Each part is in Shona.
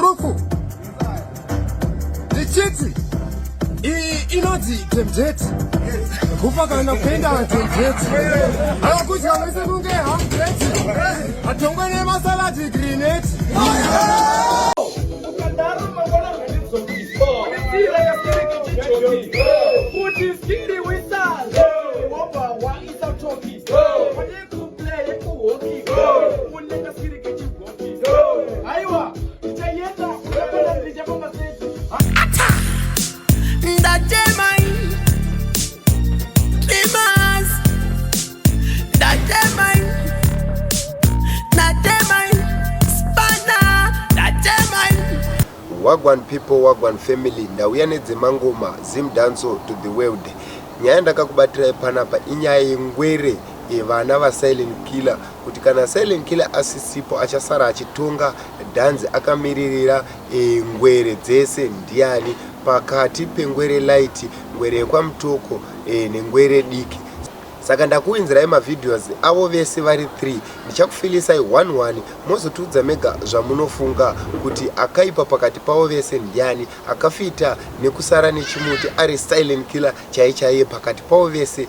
Ruku ndichiti iyi inonzi temjeti kufa kana kuenda temjeti akudya mese kunge hamjeti atongwe nemasaladi grineti wagwan people wagwan family ndauya nedzemangoma zim danso to the world nyaya ndakakubatirai panapa inyaya yengwere yevana vasilent killer kuti kana silent killer asisipo achasara achitonga dhanzi akamiririra e, ngwere dzese ndiani pakati pengwere light ngwere yekwamutoko e, nengwere diki saka ndakuinzirai mavideos avo vese vari 3 ndichakufilisai 11 mozotiudza mega zvamunofunga kuti akaipa pakati pavo vese ndiani akafita nekusara nechimuti ari silent killer chaichaiye pakati pavo vese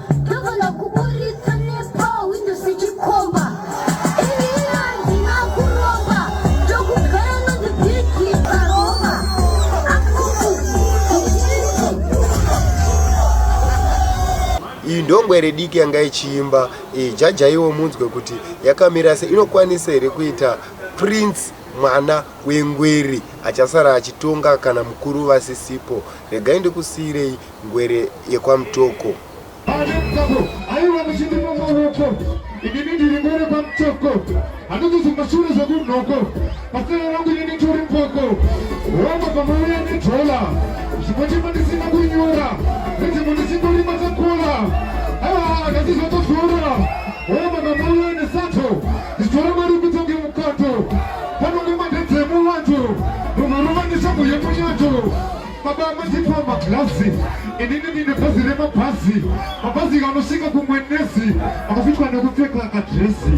iyi ndongwere diki yanga ichiimba eh, jajaiwo munzwe kuti yakamira se inokwanisa here kuita prince mwana wengweri achasara achitonga kana mukuru vasisipo regai ndikusiyirei Ngwere yekwaMutoko. Aiwa muchindipa maoko inini ndiri ngwere kwamutoko handikuzi mashure zvekunhoko pasera rangu inini tori mpoko homa pamauya nedhola zvimwe chema ndisina kunyora nedzimwe ndisingorima takola aiwa handasi zvatozora homa pamauya nesato ndichitora mari kutonge mukato panonge mandedzemu wacho munhu rovanishago yemunyato Baba amatipa maglazi inini ndine bhazi remabhazi mabhazi kanosvika kumwenezi akafitwa nekupfeka kadresi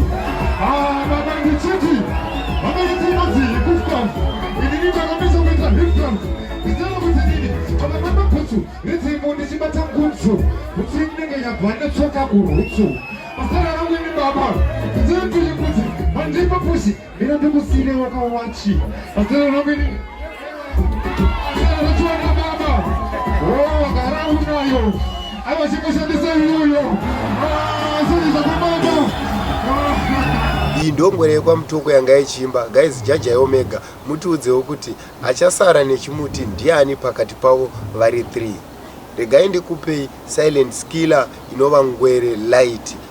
ah, baba ndichiti baba yetinozi hikufkaf inini ndakamisa kuita hifkaf nditana kuti nini baba mamabhutsu redzimo ndichibata ngutsu bhutsu inenge yabva netsoka kurutsu masara rangu ini baba nditana kuti kuti mandipa pusi Mina ndikusine wakawachi. Pasina nobili. Anachua na baba. Oh, wakara unayo. Awa shiko shandisa yuyo. Ah, sisi za baba. iyi ndongwere yekwamutoko yanga yechiimba guys jaja yeomega mutiudzewo kuti achasara nechimuti ndiani pakati pavo vari 3 regai ndikupei silent skiller inova ngwere light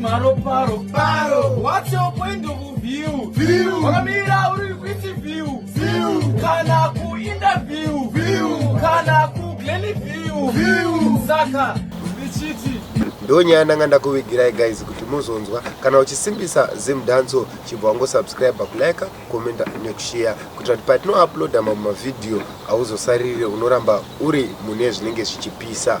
maroparo paro what's your point of view view wakamira uri kuiti view view kana ku interview view kana ku glenny view view saka ndichiti ndonyaya ndanga ndakuvigirai guys kuti muzonzwa kana uchisimbisa zim danso chibva wangosubscribe kulike commenta nekushare kuitira kuti patinouploada mamwe mavhidhiyo hauzosarire unoramba uri mune zvinenge zvichipisa